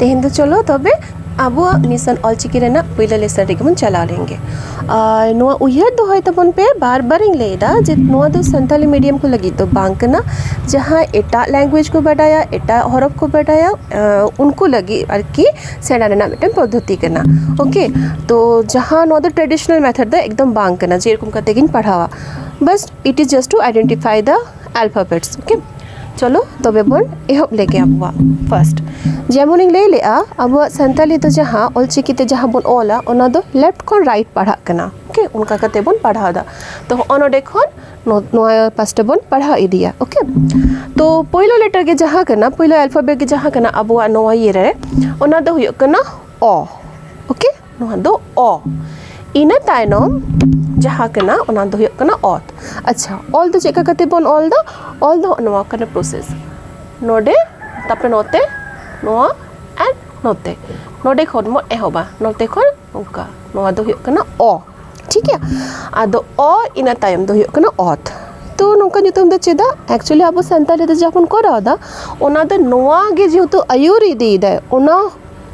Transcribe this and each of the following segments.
ᱛᱮᱦᱮᱧ ᱫᱚ ᱪᱚᱞᱚ ᱛᱚᱵᱮ ᱟᱵᱚᱣᱟᱜ ᱢᱤᱥᱚᱱ ᱚᱞᱪᱤᱠᱤ ᱨᱮᱱᱟᱜ ᱯᱩᱭᱞᱩ ᱞᱮᱥᱚᱱ ᱨᱮᱜᱮ ᱵᱚᱱ ᱪᱟᱞᱟᱣ ᱞᱮᱱ ᱜᱮ ᱟᱨ ᱱᱚᱣᱟ ᱩᱭᱦᱟᱹᱨ ᱫᱚᱦᱚᱭ ᱛᱟᱵᱚᱱ ᱯᱮ ᱵᱟᱨ ᱵᱟᱨᱤᱧ ᱞᱟᱹᱭᱮᱫᱟ ᱡᱮ ᱱᱚᱣᱟ ᱫᱚ ᱥᱟᱱᱛᱟᱲᱤ ᱢᱤᱰᱤᱭᱟᱢ ᱠᱚ ᱞᱟᱹᱜᱤᱫ ᱫᱚ ᱵᱟᱝ ᱠᱟᱱᱟ ᱡᱟᱦᱟᱸᱭ ᱮᱴᱟᱜ ᱞᱮᱝᱜᱩᱭᱮᱡᱽ ᱠᱚ ᱵᱟᱰᱟᱭᱟ ᱮᱴᱟᱜ ᱦᱚᱨᱚᱯ ᱠᱚ ᱵᱟᱰᱟᱭᱟ ᱩᱱᱠᱩ ᱞᱟᱹᱜᱤᱫ ᱟᱨᱠᱤ ᱥᱮᱬᱟ ᱨᱮᱱᱟᱜ ᱢᱤᱫᱴᱮᱱ ᱯᱚᱫᱽᱫᱷᱚᱛᱤ ᱠᱟᱱᱟ ᱳᱠᱮ ᱛᱚ ᱡᱟᱦᱟᱸ ᱱᱚᱣᱟ ᱫᱚ ᱴᱨᱟᱰᱤᱥᱚᱱᱟᱞ ᱢᱮᱛᱷᱚᱰ ᱫᱚ ᱮᱠᱫᱚᱢ ᱵᱟᱝ ᱠᱟᱱᱟ ᱡᱮᱨᱚᱠᱚᱢ ᱠᱟᱛᱮ ᱜᱤᱧ ᱯᱟᱲᱦᱟᱣᱟ ᱵᱟᱥ it is just to identify the alphabets okay ᱪᱚᱞᱚ ᱛᱚᱵᱮ ᱵᱚᱱ ᱮᱦᱚᱵ ᱞᱮᱜᱮ ᱟᱵᱚᱣᱟᱜ ᱯᱷᱟᱨᱥᱴ ᱡᱮᱢᱚᱱᱤᱧ ᱞᱟᱹᱭ ᱞᱮᱜᱼᱟ ᱟᱵᱚᱣᱟᱜ ᱥᱟᱱᱛᱟᱞᱤ ᱫᱚ ᱡᱟᱦᱟᱸ ᱚᱞᱪᱤᱠᱤᱛᱮ ᱡᱟᱦᱟᱸ ᱵᱚᱱ ᱚᱞᱟ ᱚᱱᱟ ᱫᱚ ᱞᱮᱯᱷᱴ ᱠᱷᱚᱱ ᱨᱟᱭᱤᱴ ᱯᱟᱲᱦᱟᱜ ᱠᱟᱱᱟ ᱳᱠᱮ ᱚᱱᱠᱟ ᱠᱟᱛᱮ ᱵᱚᱱ ᱯᱟᱲᱦᱟᱣᱫᱟ ᱛᱚ ᱦᱚᱸᱜᱼᱚ ᱱᱚᱰᱮ ᱠᱷᱚᱱ ᱱᱚᱣᱟ ᱯᱟᱥᱴᱟ ᱵᱚᱱ ᱯᱟᱲᱦᱟᱣ ᱤᱫᱤᱭᱟ ᱳᱠᱮ ᱛᱚ ᱯᱳᱭᱞᱳ ᱞᱮᱴᱟᱨ ᱜᱮ ᱡᱟᱦᱟᱸ ᱠᱟᱱᱟ ᱯᱳᱭᱞᱳ ᱟᱞᱯᱷᱟᱵᱮᱴ ᱜᱮ ᱡᱟᱦᱟᱸ ᱠᱟᱱᱟ ᱟᱵᱚᱣᱟᱜ ᱱᱚᱣᱟ ᱤᱭᱟᱹ ᱨᱮ ᱚᱱᱟ ᱫᱚ ᱦᱩᱭᱩᱜ ᱠᱟᱱᱟ ᱚ ᱳᱠᱮ ᱱᱚᱣᱟ ᱫᱚ ᱚ ᱤᱱᱟᱹ ᱛᱟᱭᱱᱚᱢ ᱡᱟᱦᱟᱸ ᱠᱟᱱᱟ ᱚᱱᱟ ᱫᱚ ᱦᱩᱭᱩᱜ ᱠᱟᱱᱟ ᱚᱛ ᱟᱪᱪᱷᱟ ᱚᱞ ᱫᱚ ᱪᱮᱫ ᱞᱮᱠᱟ ᱠᱟᱛᱮ ᱵᱚᱱ ᱚᱞ ᱫᱟ ᱚᱞ ᱫᱚ ᱱᱚᱣᱟ ᱠᱟᱱᱟ ᱯᱨᱚᱥᱮᱥ ᱱᱚᱰᱮ ᱛᱟᱯᱚᱨᱮ ᱱᱚᱛᱮ ᱱᱚᱣᱟ ᱟᱨ ᱱᱚᱛᱮ ᱱᱚᱰᱮ ᱠᱷᱚᱱ ᱵᱚᱱ ᱮᱦᱚᱵᱟ ᱱᱚᱛᱮ ᱠᱷᱚᱱ ᱚᱱᱠᱟ ᱱᱚᱣᱟ ᱫᱚ ᱦᱩᱭᱩᱜ ᱠᱟᱱᱟ ᱚ ᱴᱷᱤᱠ ᱜᱮᱭᱟ ᱟᱫᱚ ᱚ ᱤᱱᱟᱹ ᱛᱟᱭᱚᱢ ᱫᱚ ᱦᱩᱭᱩᱜ ᱠᱟᱱᱟ ᱚᱛ ᱛᱚ ᱱᱚᱝᱠᱟ ᱧᱩᱛᱩᱢ ᱫᱚ ᱪᱮᱫᱟᱜ ᱮᱠᱪᱩᱭᱮᱞᱤ ᱟᱵᱚ ᱥᱟᱱᱛᱟᱲᱤ ᱛᱮ ᱡᱟᱦᱟᱸ ᱵᱚᱱ ᱠᱚᱨᱟᱣᱫᱟ ᱚᱱᱟ ᱫᱚ ᱱᱚᱣᱟ ᱜᱮ ᱡᱮᱦᱮᱛᱩ ᱟᱹᱭᱩᱨ ᱤᱫᱤᱭᱮᱫᱟᱭ ᱚᱱᱟ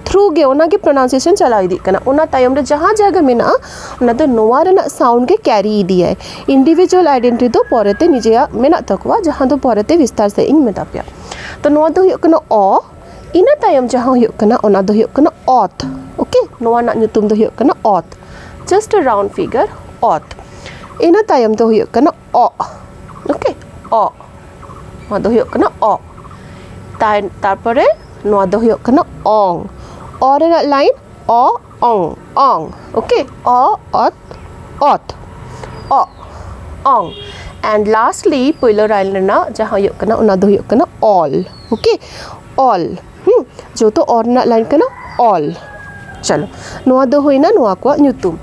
ᱛᱷᱨᱩ ᱜᱮ ᱚᱱᱟᱜᱮ ᱯᱨᱚᱱᱟᱣᱩᱱᱥᱤᱭᱮᱥᱚᱱ ᱪᱟᱞᱟᱣ ᱤᱫᱤᱜ ᱠᱟᱱᱟ ᱚᱱᱟ ᱛᱟᱭᱚᱢ ᱨᱮ ᱡᱟᱦᱟᱸ ᱡᱟᱭᱜᱟ ᱢᱮᱱᱟᱜᱼᱟ ᱚᱱᱟ ᱫᱚ ᱱᱚᱣᱟ ᱨᱮᱱᱟᱜ ᱥᱟᱣᱩᱱᱰ ᱜᱮ ᱠᱮᱨᱤ ᱤᱫᱤᱭᱟᱭ ᱤᱱᱰᱤᱵᱷᱤᱡᱩᱣᱟᱞ ᱟᱭᱰᱮᱱᱴᱤ ᱫᱚ ᱯᱚᱨᱮᱛᱮ ᱱᱤᱡᱮᱭᱟᱜ ᱢᱮᱱᱟᱜ ᱛᱟᱠᱚᱣᱟ ᱡᱟᱦᱟᱸ ᱫᱚ ᱯᱚᱨᱮᱛᱮ ᱵᱤᱥᱛᱟᱨ ᱥᱟᱺᱦᱤᱡ ᱤᱧ ᱢᱮᱛᱟ ᱯᱮᱭᱟ ᱛᱚ ᱱᱚᱣᱟ ᱫᱚ ᱦᱩᱭᱩᱜ ᱠᱟᱱᱟ ᱚ ᱤᱱᱟᱹ ᱛᱟᱭᱚᱢ ᱡᱟᱦᱟᱸ ᱦᱩᱭᱩᱜ ᱠᱟᱱᱟ ᱚᱱᱟ ᱫᱚ ᱦᱩᱭᱩᱜ ᱠᱟᱱᱟ ᱚᱛ ᱳᱠᱮ ᱱᱚᱣᱟ ᱨᱮᱱᱟᱜ ᱧᱩᱛᱩᱢ ᱫᱚ ᱦᱩᱭᱩᱜ ᱠᱟᱱᱟ ᱚᱛ ᱡᱟᱥᱴ ᱮ ᱨᱟᱣᱩᱱᱰ ᱯᱷᱤᱜᱟᱨ ᱚᱛ ᱤᱱᱟᱹ ᱛᱟᱭᱚᱢ ᱫᱚ ᱦᱩᱭᱩᱜ ᱠᱟᱱᱟ ᱚᱜ ᱳᱠᱮ ᱚᱜ ᱱᱚᱣᱟ ᱫᱚ ᱦᱩᱭᱩᱜ ᱠᱟᱱᱟ ᱚᱜ ᱛᱟᱭ ᱛᱟᱨᱯᱚᱨᱮ ᱱᱚᱣᱟ ᱫᱚ ᱦᱩᱭᱩᱜ ᱠᱟᱱᱟ ᱚᱝ ᱚ ᱨᱮᱱᱟᱜ ᱞᱟᱭᱤᱱ ᱚ ᱚᱝ ᱚᱝ ᱳᱠᱮ ᱚ ᱚᱛ ᱚᱛ ᱚᱜ ᱚᱝ ᱮᱱᱰ ᱞᱟᱥᱴᱞᱤ ᱯᱳᱭᱞᱳ ᱞᱟᱭᱤᱱ ᱨᱮᱱᱟᱜ ᱡᱟᱦᱟᱸ ᱦᱩᱭᱩᱜ ᱠᱟᱱᱟ ᱚᱱᱟ ᱫᱚ ᱦᱩᱭᱩᱜ ᱠᱟᱱᱟ ᱚᱞ ᱳᱠᱮ ᱚᱞ ᱦᱩᱸ ᱡᱮᱦᱮᱛᱩ ᱚ ᱨᱮᱱᱟᱜ ᱞᱟᱭᱤᱱ ᱠᱟᱱᱟ ᱚᱞ ᱪᱚᱞᱚ ᱱᱚᱣᱟ ᱫᱚ ᱦᱩᱭᱱᱟ ᱱᱚᱣᱟ ᱠᱚᱣᱟᱜ ᱧᱩᱛᱩᱢ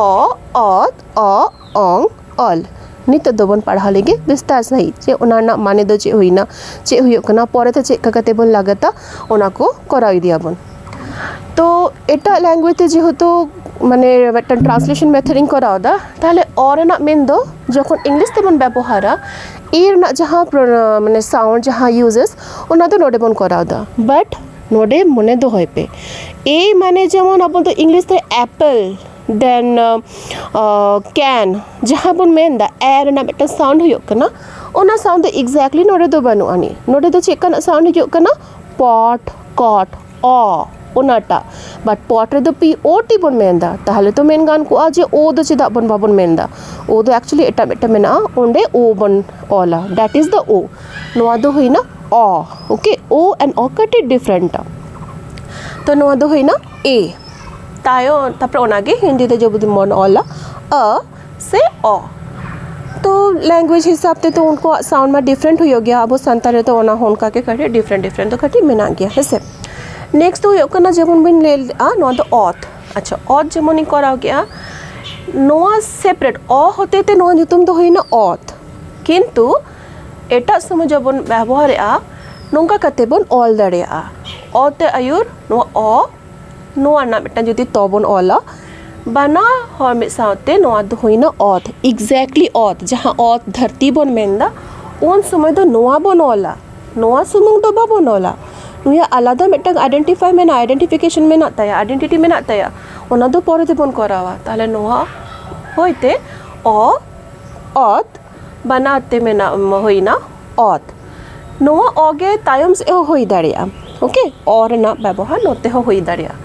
ᱚ ᱚᱛ ᱚᱜ ᱚᱝ ᱚᱞ ᱱᱤᱛᱚᱜ ᱫᱚᱵᱚᱱ ᱯᱟᱲᱦᱟᱣ ᱞᱮᱜᱮ ᱵᱤᱥᱛᱟᱨ ᱥᱟᱺᱦᱤᱡ ᱡᱮ ᱚᱱᱟ ᱨᱮᱱᱟᱜ ᱢᱟᱱᱮ ᱫᱚ ᱪᱮᱫ ᱦᱩᱭᱱᱟ ᱪᱮᱫ ᱦᱩᱭᱩᱜ ᱠᱟᱱᱟ ᱯᱚᱨᱮᱛᱮ ᱪᱮᱫ ᱞᱮᱠᱟ ᱠᱟᱛᱮ ᱵᱚᱱ ᱞᱟᱜᱟᱛᱟ ᱚᱱᱟ ᱠᱚ ᱠᱚᱨᱟᱣ ᱤᱫᱤᱭᱟᱵᱚᱱ ᱛᱚ ᱮᱴᱟᱜ ᱞᱮᱝᱜᱩᱭᱮᱡᱽ ᱛᱮ ᱡᱮᱦᱮᱛᱩ ᱢᱟᱱᱮ ᱢᱤᱫᱴᱟᱝ ᱴᱨᱟᱱᱥᱞᱮᱥᱚᱱ ᱢᱮᱛᱷᱚᱰ ᱤᱧ ᱠᱚᱨᱟᱣᱫᱟ ᱛᱟᱦᱚᱞᱮ ᱚ ᱨᱮᱱᱟᱜ ᱢᱮᱱ ᱫᱚ ᱡᱚᱠᱷᱚᱱ ᱤᱝᱞᱤᱥ ᱛᱮᱵᱚᱱ ᱵᱮᱵᱚᱦᱟᱨᱟ ᱤ ᱨᱮᱱᱟᱜ ᱡᱟᱦᱟᱸ ᱢᱟᱱᱮ ᱥᱟᱣᱩᱱᱰ ᱡᱟᱦᱟᱸ ᱤᱭᱩᱡᱮᱥ ᱚᱱᱟ ᱫᱚ ᱱᱚᱰᱮ ᱵᱚᱱ ᱠᱚᱨᱟᱣᱫᱟ ᱵᱟᱴ ᱱᱚᱰᱮ ᱢᱚᱱᱮ ᱫᱚᱦᱚᱭ ᱯᱮ ᱮ ᱢᱟᱱᱮ ᱡᱮᱢᱚᱱ ᱟᱵᱚ ᱫᱚ ᱤᱝᱞᱤᱥ ᱛᱮ ᱮᱯᱮᱞ ᱫᱮᱱ ᱠᱮᱱ ᱡᱟᱦᱟᱸ ᱵᱚᱱ ᱢᱮᱱᱫᱟ ᱮ ᱨᱮᱱᱟᱜ ᱢᱤᱫᱴᱟᱝ ᱥᱟᱣᱩᱱᱰ ᱦᱩᱭᱩᱜ ᱠᱟᱱᱟ ᱚᱱᱟ ᱥᱟᱣᱩᱱᱰ ᱫᱚ ᱮᱠᱡᱮᱠᱴᱞᱤ ᱱᱚᱰᱮ ᱫᱚ ᱵᱟᱹᱱᱩᱜ ᱟᱹᱱᱤᱡ ᱱᱚᱰᱮ ᱫᱚ ᱪᱮᱫ ᱠᱟᱱᱟᱜ ᱥᱟᱣᱩᱱᱰ ᱦᱤᱡᱩᱜ ᱠᱟᱱᱟ ᱯᱚᱴ ᱠᱚᱴ ᱚ ᱚᱱᱟᱴᱟᱜ ᱵᱟᱴ ᱯᱚᱴ ᱨᱮᱫᱚ ᱯᱤ ᱳ ᱴᱤ ᱵᱚᱱ ᱢᱮᱱᱫᱟ ᱛᱟᱦᱚᱞᱮ ᱛᱚ ᱢᱮᱱ ᱜᱟᱱ ᱠᱚᱜᱼᱟ ᱡᱮ ᱳ ᱫᱚ ᱪᱮᱫᱟᱜ ᱵᱚᱱ ᱵᱟᱵᱚᱱ ᱢᱮᱱᱫᱟ ᱳ ᱫᱚ ᱮᱠᱪᱩᱭᱮᱞᱤ ᱮᱴᱟᱜ ᱢᱤᱫᱴᱟᱝ ᱢᱮᱱᱟᱜᱼᱟ ᱚᱸᱰᱮ ᱳ ᱵᱚᱱ ᱚᱞᱟ ᱫᱮᱴ ᱤᱡᱽ ᱫᱟ ᱳ ᱱᱚᱣᱟ ᱫᱚ ᱦᱩᱭᱱᱟ ᱚ ᱳᱠᱮ ᱳ ᱮᱱᱰ ᱳ ᱠᱟᱹᱴᱤᱡ ᱰᱤᱯᱷᱨᱮᱱᱴᱟ ᱛᱚ ᱱᱚᱣᱟ ᱫᱚ ᱦᱩᱭᱱᱟ ᱮ ᱛᱟᱭᱚᱢ ᱛᱟᱨᱯᱚᱨᱮ ᱚᱱᱟᱜᱮ ᱦᱤᱱᱫᱤ ᱛᱮ ᱡᱩᱫᱤ ᱵᱚᱱ ᱚᱞᱟ ᱚ ᱥᱮ ᱚ ᱛᱚ ᱞᱮᱝᱜᱩᱭᱮᱡᱽ ᱦᱤᱥᱟᱹᱵ ᱛᱮᱫᱚ ᱩᱱᱠᱩᱣᱟᱜ ᱥᱟᱣᱩᱱᱰ ᱢᱟ ᱰᱤᱯᱷᱨᱮᱱᱴ ᱦᱩᱭᱩᱜ ᱜᱮᱭᱟ ᱟᱵᱚ ᱥᱟᱱᱛᱟᱲᱤ ᱨᱮᱫᱚ ᱚᱱᱟ ᱦᱚᱸ ᱚᱱᱠᱟ ᱜᱮ ᱠᱟᱹᱴᱤᱡ ᱰᱤᱯᱷᱨᱮᱱᱴ ᱰᱤᱯᱷᱨᱮᱱᱴ ᱫᱚ ᱠᱟᱹᱴᱤᱡ ᱢᱮᱱᱟᱜ ᱜᱮᱭᱟ ᱦᱮᱸ ᱥᱮ ᱱᱮᱠᱥᱴ ᱫᱚ ᱦᱩᱭᱩᱜ ᱠᱟᱱᱟ ᱡᱮᱢᱚᱱ ᱵᱤᱱ ᱞᱟᱹᱭ ᱞᱮᱜᱼᱟ ᱱᱚᱣᱟ ᱫᱚ ᱚᱛ ᱟᱪᱪᱷᱟ ᱚᱛ ᱡᱮᱢᱚᱱᱤᱧ ᱠᱚᱨᱟᱣ ᱠᱮᱜᱼᱟ ᱱᱚᱣᱟ ᱥᱮᱯᱟᱨᱮᱴ ᱚ ᱦᱚᱛᱮ ᱛᱮ ᱱᱚᱣᱟ ᱧᱩᱛᱩᱢ ᱫᱚ ᱦᱩᱭᱱᱟ ᱚᱛ ᱠᱤᱱᱛᱩ ᱮᱴᱟᱜ ᱥᱚᱢᱚᱭ ᱡᱚᱵᱚᱱ ᱵᱮᱵᱚᱦᱟᱨᱮᱜᱼᱟ ᱱᱚᱝᱠᱟ ᱠᱟᱛᱮ ᱵᱚᱱ ᱚᱞ ᱫᱟᱲᱮᱭᱟᱜᱼᱟ ᱚ ᱛᱮ ᱟᱹᱭᱩᱨ ᱱᱚᱣᱟ ᱚ ᱱᱚᱣᱟ ᱨᱮᱱᱟᱜ ᱢᱤᱫᱴᱟᱝ ᱡᱩᱫᱤ ᱛᱚ ᱵᱚᱱ ᱚᱞᱟ ᱵᱟᱱᱟ ᱦᱚᱲ ᱢᱤᱫ ᱥᱟᱶᱛᱮ ᱱᱚᱣᱟ ᱫᱚ ᱦᱩᱭᱱᱟ ᱚᱛ ᱮᱠᱡᱮᱠᱴᱞᱤ ᱚᱛ ᱡᱟᱦᱟᱸ ᱚᱛ ᱫᱷᱟᱹᱨᱛᱤ ᱵᱚᱱ ᱢᱮᱱᱫᱟ ᱩᱱ ᱥᱚᱢᱚᱭ ᱫᱚ ᱱᱚᱣᱟ ᱵᱚᱱ ᱚᱞᱟ ᱱᱚᱣᱟ ᱥᱩᱢᱩᱝ ᱫᱚ ᱵᱟᱵᱚᱱ ᱚᱞᱟ ᱱᱩᱭᱟᱜ ᱟᱞᱟᱫᱟ ᱢᱤᱫᱴᱟᱝ ᱟᱭᱰᱮᱱᱴᱤᱯᱷᱟᱭ ᱢᱮᱱᱟᱜᱼᱟ ᱟᱭᱰᱮᱱᱴᱤᱯᱷᱤᱠᱮᱥᱚᱱ ᱢᱮᱱᱟᱜ ᱛᱟᱭᱟ ᱟᱭᱰᱮᱱᱴᱤᱴᱤ ᱢᱮᱱᱟᱜ ᱛᱟᱭᱟ ᱚᱱᱟ ᱫᱚ ᱯᱚᱨᱮ ᱛᱮᱵᱚᱱ ᱠᱚᱨᱟᱣᱟ ᱛᱟᱦᱚᱞᱮ ᱱᱚᱣᱟ ᱦᱚᱭᱛᱮ ᱚ ᱚᱛ ᱵᱟᱱᱟᱨ ᱛᱮ ᱢᱮᱱᱟᱜ ᱦᱩᱭᱱᱟ ᱚᱛ ᱱᱚᱣᱟ ᱚ ᱜᱮ ᱛᱟᱭᱚᱢ ᱥᱮᱫ ᱦᱚᱸ ᱦᱩᱭ ᱫᱟᱲᱮᱭᱟᱜᱼᱟ ᱳᱠᱮ ᱚ ᱨᱮᱱᱟᱜ ᱵᱮᱵᱚᱦᱟᱨ ᱱᱚᱛᱮ ᱦᱚᱸ ᱦᱩᱭ ᱫᱟᱲᱮᱭᱟᱜᱼᱟ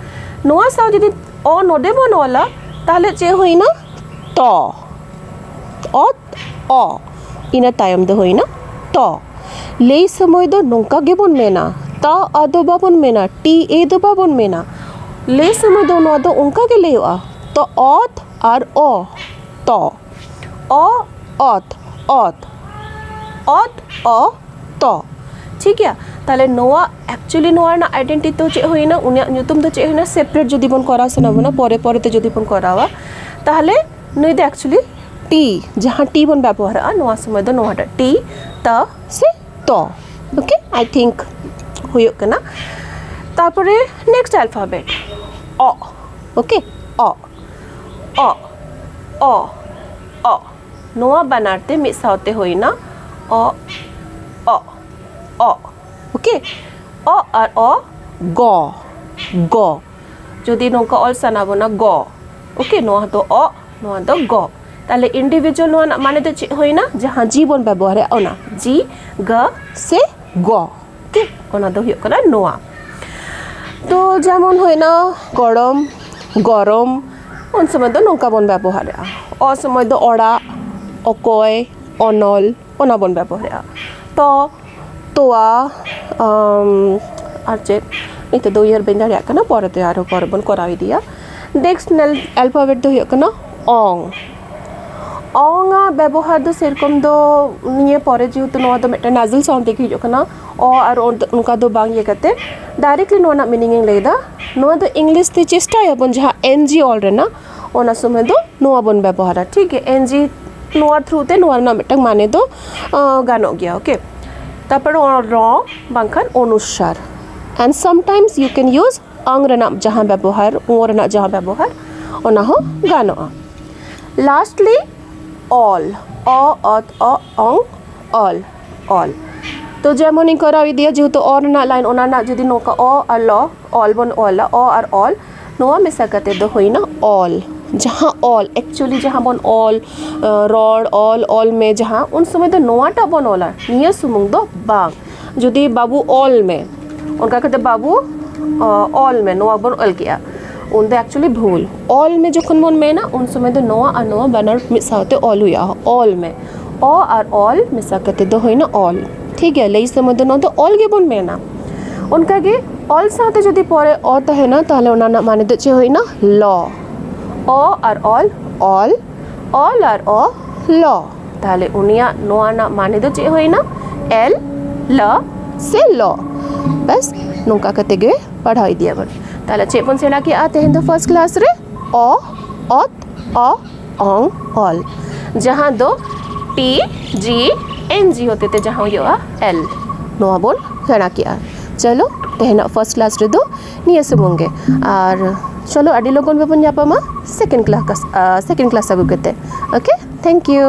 ᱱᱚᱣᱟ ᱥᱟᱶ ᱡᱩᱫᱤ ᱚ ᱱᱚᱰᱮ ᱵᱚᱱ ᱚᱞᱟ ᱛᱟᱦᱞᱮ ᱪᱮᱫ ᱦᱩᱭᱱᱟ ᱛᱚ ᱚᱛ ᱚ ᱤᱱᱟᱹ ᱛᱟᱭᱚᱢ ᱫᱚ ᱦᱩᱭᱱᱟ ᱛᱚ ᱞᱟᱹᱭ ᱥᱚᱢᱚᱭ ᱫᱚ ᱱᱚᱝᱠᱟ ᱜᱮᱵᱚᱱ ᱢᱮᱱᱟ ᱛᱟ ᱟ ᱫᱚ ᱵᱟᱵᱚᱱ ᱢᱮᱱᱟ ᱴᱤ ᱮ ᱫᱚ ᱵᱟᱵᱚᱱ ᱢᱮᱱᱟ ᱞᱟᱹᱭ ᱥᱚᱢᱚᱭ ᱫᱚ ᱱᱚᱣᱟ ᱫᱚ ᱚᱱᱠᱟ ᱜᱮ ᱞᱟᱹᱭᱚᱜᱼᱟ ᱛᱚ ᱚᱛ ᱟᱨ ᱚ ᱛᱚ ᱚ ᱚᱛ ᱚᱛ ᱚᱛ ᱚ ᱛᱚ ᱴᱷᱤᱠ ᱜᱮᱭᱟ ᱛᱟᱦᱚᱞᱮ ᱱᱚᱣᱟ ᱮᱠᱪᱩᱭᱮᱞᱤ ᱱᱚᱣᱟ ᱨᱮᱱᱟᱜ ᱟᱭᱰᱮᱱᱴᱤ ᱫᱚ ᱪᱮᱫ ᱦᱩᱭᱱᱟ ᱩᱱᱤᱭᱟᱜ ᱧᱩᱛᱩᱢ ᱫᱚ ᱪᱮᱫ ᱦᱩᱭᱱᱟ ᱥᱮᱯᱟᱨᱮᱴ ᱡᱩᱫᱤ ᱵᱚᱱ ᱠᱚᱨᱟᱣ ᱥᱟᱱᱟ ᱵᱚᱱᱟ ᱯᱚᱨᱮ ᱯᱚᱨᱮ ᱛᱮ ᱡᱩᱫᱤ ᱵᱚᱱ ᱠᱚᱨᱟᱣᱟ ᱛᱟᱦᱚᱞᱮ ᱱᱩᱭ ᱫᱚ ᱮᱠᱪᱩᱭᱮᱞᱤ ᱴᱤ ᱡᱟᱦᱟᱸ ᱴᱤ ᱵᱚᱱ ᱵᱮᱵᱚᱦᱟᱨᱟᱜᱼᱟ ᱱᱚᱣᱟ ᱥᱚᱢᱚᱭ ᱫᱚ ᱱᱚᱣᱟᱴᱟᱜ ᱴᱤ ᱛᱟ ᱥᱮ ᱛᱚ ᱳᱠᱮ ᱟᱭ ᱛᱷᱤᱝᱠ ᱦᱩᱭᱩᱜ ᱠᱟᱱᱟ ᱛᱟᱨᱯᱚᱨᱮ ᱱᱮᱠᱥᱴ ᱟᱞᱯᱷᱟᱵᱮᱴ ᱚ ᱳᱠᱮ ᱚ ᱚᱜ ᱚ ᱚᱜ ᱱᱚᱣᱟ ᱵᱟᱱᱟᱨ ᱛᱮ ᱢᱤᱫ ᱥᱟᱶᱛᱮ ᱦᱩᱭᱱᱟ ᱚᱜ ᱚᱜ ᱚᱜ ᱳᱠᱮ ᱚᱜ ᱟᱨ ᱚ ᱜᱚ ᱜᱚ ᱡᱩᱫᱤ ᱱᱚᱝᱠᱟ ᱚᱞ ᱥᱟᱱᱟ ᱵᱚᱱᱟ ᱜᱚ ᱳᱠᱮ ᱱᱚᱣᱟ ᱫᱚ ᱚᱜ ᱱᱚᱣᱟ ᱫᱚ ᱜᱚ ᱛᱟᱦᱞᱮ ᱤᱱᱰᱤᱵᱷᱤᱡᱩᱣᱟᱞ ᱱᱚᱣᱟ ᱨᱮᱱᱟᱜ ᱢᱟᱱᱮ ᱫᱚ ᱪᱮᱫ ᱦᱩᱭᱱᱟ ᱡᱟᱦᱟᱸ ᱡᱤ ᱵᱚᱱ ᱵᱮᱵᱚᱦᱟᱨᱮᱜᱼᱟ ᱚᱱᱟ ᱡᱤ ᱜᱟ ᱥᱮ ᱜᱚ ᱴᱷᱤᱠ ᱚᱱᱟ ᱫᱚ ᱦᱩᱭᱩᱜ ᱠᱟᱱᱟ ᱱᱚᱣᱟ ᱛᱚ ᱡᱮᱢᱚᱱ ᱦᱩᱭᱱᱟ ᱜᱚᱲᱚᱢ ᱜᱚᱨᱚᱢ ᱩᱱ ᱥᱚᱢᱚᱭ ᱫᱚ ᱱᱚᱝᱠᱟ ᱵᱚᱱ ᱵᱮᱵᱚᱦᱟᱨᱮᱜᱼᱟ ᱚᱥᱚᱢᱚᱭ ᱫᱚ ᱚᱲᱟᱜ ᱚᱠᱚᱭ ᱚᱱᱚᱞ ᱚᱱᱟ ᱵᱚᱱ ᱵᱮᱵᱚᱦᱟᱨᱮᱜᱼᱟ ᱛᱚ ᱛᱚᱣᱟ ᱟᱨ ᱪᱮᱫ ᱱᱤᱛᱚᱜ ᱫᱚ ᱩᱭᱦᱟᱹᱨ ᱵᱟᱹᱧ ᱫᱟᱲᱮᱭᱟᱜ ᱠᱟᱱᱟ ᱯᱚᱨᱮᱛᱮ ᱟᱨᱚ ᱯᱚᱨᱮ ᱵᱚᱱ ᱠᱚᱨᱟᱣ ᱤᱫᱤᱭᱟ ᱱᱮᱠᱥᱴ ᱮᱞᱯᱷᱟᱵᱮᱴ ᱫᱚ ᱦᱩᱭᱩᱜ ᱠᱟᱱᱟ ᱚᱝ ᱚᱝ ᱟᱜ ᱵᱮᱵᱚᱦᱟᱨ ᱫᱚ ᱥᱮᱨᱚᱠᱚᱢ ᱫᱚ ᱱᱤᱭᱟᱹ ᱯᱚᱨᱮ ᱡᱮᱦᱮᱛᱩ ᱱᱚᱣᱟ ᱫᱚ ᱢᱤᱫᱴᱮᱱ ᱱᱟᱡᱮᱞ ᱥᱟᱣᱩᱱᱰ ᱛᱮᱜᱮ ᱦᱤᱡᱩᱜ ᱠᱟᱱᱟ ᱚ ᱟᱨ ᱚ ᱫᱚ ᱚᱱᱠᱟ ᱫᱚ ᱵᱟᱝ ᱤᱭᱟᱹ ᱠᱟᱛᱮᱫ ᱰᱟᱭᱨᱮᱠᱴᱞᱤ ᱱᱚᱣᱟ ᱨᱮᱱᱟᱜ ᱢᱤᱱᱤᱝ ᱤᱧ ᱞᱟᱹᱭᱫᱟ ᱱᱚᱣᱟ ᱫᱚ ᱤᱝᱞᱤᱥ ᱛᱮ ᱪᱮᱥᱴᱟᱭᱟᱵᱚᱱ ᱡᱟᱦᱟᱸ ᱮᱱ ᱡᱤ ᱚᱞ ᱨᱮᱱᱟᱜ ᱚᱱᱟ ᱥᱚᱢᱚᱭ ᱫᱚ ᱱᱚᱣᱟ ᱵᱚᱱ ᱵᱮᱵᱚᱦᱟᱨᱟ ᱴᱷᱤᱠ ᱜᱮᱭᱟ ᱮᱱ ᱡᱤ ᱱᱚᱣᱟ ᱛᱷᱨᱩ ᱛᱮ ᱱᱚᱣᱟ ᱨᱮᱱᱟᱜ ᱢᱤᱫᱴᱟᱝ ᱢᱟᱱᱮ ᱫᱚ ᱜᱟᱱᱚᱜ ᱜᱮᱭᱟ ᱳᱠᱮ ᱛᱟᱨᱯᱚᱨᱮ ᱨᱚ ᱵᱟᱝᱠᱷᱟᱱ ᱚᱱᱩᱥᱟᱨ and sometimes you can use ᱚᱝ ᱨᱮᱱᱟᱜ ᱡᱟᱦᱟᱸ ᱵᱮᱵᱚᱦᱟᱨ ᱳ ᱨᱮᱱᱟᱜ ᱡᱟᱦᱟᱸ ᱵᱮᱵᱚᱦᱟᱨ ᱚᱱᱟ ᱦᱚᱸ ᱜᱟᱱᱚᱜᱼᱟ ᱞᱟᱥᱴᱞᱤ ᱚᱞ ᱚ ᱚᱛ ᱚ ᱚᱝ ᱚᱞ ᱚᱞ ᱛᱚ ᱡᱮᱢᱚᱱᱤᱧ ᱠᱚᱨᱟᱣ ᱤᱫᱤᱭᱟ ᱡᱮᱦᱮᱛᱩ ᱚ ᱨᱮᱱᱟᱜ ᱞᱟᱭᱤᱱ ᱚᱱᱟ ᱨᱮᱱᱟᱜ ᱡᱩᱫᱤ ᱱᱚᱝᱠᱟ ᱚ ᱟᱨ ᱞᱚ ᱚᱞ ᱵᱚᱱ ᱚᱞᱟ ᱚ ᱟᱨ ᱚᱞ ᱱᱚᱣᱟ ᱢᱮᱥᱟ ᱠᱟᱛᱮ ᱫᱚ ᱦᱩᱭᱱᱟ ᱚᱞ ᱡᱟᱦᱟᱸ ᱚᱞ ᱮᱠᱪᱩᱭᱮᱞᱤ ᱡᱟᱦᱟᱸ ᱵᱚᱱ ᱚᱞ ᱨᱚᱲ ᱚᱞ ᱚᱞ ᱢᱮ ᱡᱟᱦᱟᱸ ᱩᱱ ᱥᱚᱢᱚᱭ ᱫᱚ ᱱᱚᱣᱟᱴᱟᱜ ᱵᱚᱱ ᱚᱞᱟ ᱱᱤᱭᱟᱹ ᱥᱩᱢᱩᱝ ᱫᱚ ᱵᱟᱝ ᱡᱩᱫᱤ ᱵᱟᱹᱵᱩ ᱚᱞ ᱢᱮ ᱚᱱᱠᱟ ᱠᱟᱛᱮ ᱵᱟᱹᱵᱩ ᱚᱞ ᱢᱮ ᱱᱚᱣᱟ ᱵᱚᱱ ᱚᱞ ᱠᱮᱜᱼᱟ ᱩᱱ ᱫᱚ ᱮᱠᱪᱩᱭᱮᱞᱤ ᱵᱷᱩᱞ ᱚᱞ ᱢᱮ ᱡᱚᱠᱷᱚᱱ ᱵᱚᱱ ᱢᱮᱱᱟ ᱩᱱ ᱥᱚᱢᱚᱭ ᱫᱚ ᱱᱚᱣᱟ ᱟᱨ ᱱᱚᱣᱟ ᱵᱟᱱᱟᱨ ᱢᱤᱫ ᱥᱟᱶᱛᱮ ᱚᱞ ᱦᱩᱭᱩᱜᱼᱟ ᱚᱞ ᱢᱮ ᱚ ᱟᱨ ᱚᱞ ᱢᱮᱥᱟ ᱠᱟᱛᱮ ᱫᱚ ᱦᱩᱭᱱᱟ ᱚᱞ ᱴᱷᱤᱠ ᱜᱮᱭᱟ ᱞᱟᱹᱭ ᱥᱚᱢᱚᱭ ᱫᱚ ᱱᱚᱣᱟ ᱫᱚ ᱚᱞ ᱜᱮᱵᱚᱱ ᱢᱮᱱᱟ ᱚᱱᱠᱟᱜᱮ ᱚᱞ ᱥᱟᱶᱛᱮ ᱡᱩᱫᱤ ᱯᱚᱨᱮ ᱚ ᱛᱟᱦᱮᱱᱟ ᱛᱟᱦᱚᱞᱮ ᱚᱱᱟ ᱨᱮᱱᱟᱜ ᱢᱟᱱᱮ ᱫᱚ ᱪᱮᱫ ᱦᱩᱭᱱᱟ ᱞᱚ ᱚ ᱟᱨ ᱚᱞ ᱚᱞ ᱚᱞ ᱟᱨ ᱚ ᱞᱚ ᱛᱟᱦᱚᱞᱮ ᱩᱱᱤᱭᱟᱜ ᱱᱚᱣᱟ ᱨᱮᱱᱟᱜ ᱢᱟᱱᱮ ᱫᱚ ᱪᱮᱫ ᱦᱩᱭᱱᱟ ᱮᱞ ᱞ ᱥᱮ ᱞᱚ ᱵᱟᱥ ᱱᱚᱝᱠᱟ ᱠᱟᱛᱮ ᱜᱮ ᱯᱟᱲᱦᱟᱣ ᱤᱫᱤᱭᱟᱵᱚᱱ ᱛᱟᱦᱚᱞᱮ ᱪᱮᱫ ᱵᱚᱱ ᱥᱮᱬᱟ ᱠᱮᱜᱼᱟ ᱛᱮᱦᱮᱧ ᱫᱚ ᱯᱷᱟᱥᱴ ᱠᱞᱟᱥ ᱨᱮ ᱚ ᱚᱛ ᱚ ᱚᱝ ᱚᱞ ᱡᱟᱦᱟᱸ ᱫᱚ ᱴᱤ ᱡᱤ ᱮᱱ ᱡᱤ ᱦᱚᱛᱮ ᱛᱮ ᱡᱟᱦᱟᱸ ᱦᱩᱭᱩᱜᱼᱟ ᱮᱞ ᱱᱚᱣᱟ ᱵᱚᱱ ᱥᱮᱬᱟ ᱠᱮᱜᱼᱟ ᱪᱚᱞᱚ ᱛᱮᱦᱮᱧᱟᱜ ᱯᱷᱟᱥᱴ ᱠᱞᱟᱥ ᱨᱮᱫᱚ ᱱᱤᱭᱟᱹ ᱥᱩᱢᱩᱝ ᱜᱮ ᱟᱨ ᱪᱚᱞᱚ ᱟᱹᱰᱤ ᱞᱚᱜᱚᱱ ᱜᱮᱵᱚᱱ ᱧᱟᱯᱟᱢᱟ ᱥᱮᱠᱮᱱᱰ ᱠᱞᱟᱥ ᱥᱮᱠᱮᱱᱰ ᱠᱞᱟᱥ ᱟᱹᱜᱩ ᱠᱟᱛᱮ ᱳᱠᱮ ᱛᱷᱮᱝᱠ ᱤᱭᱩ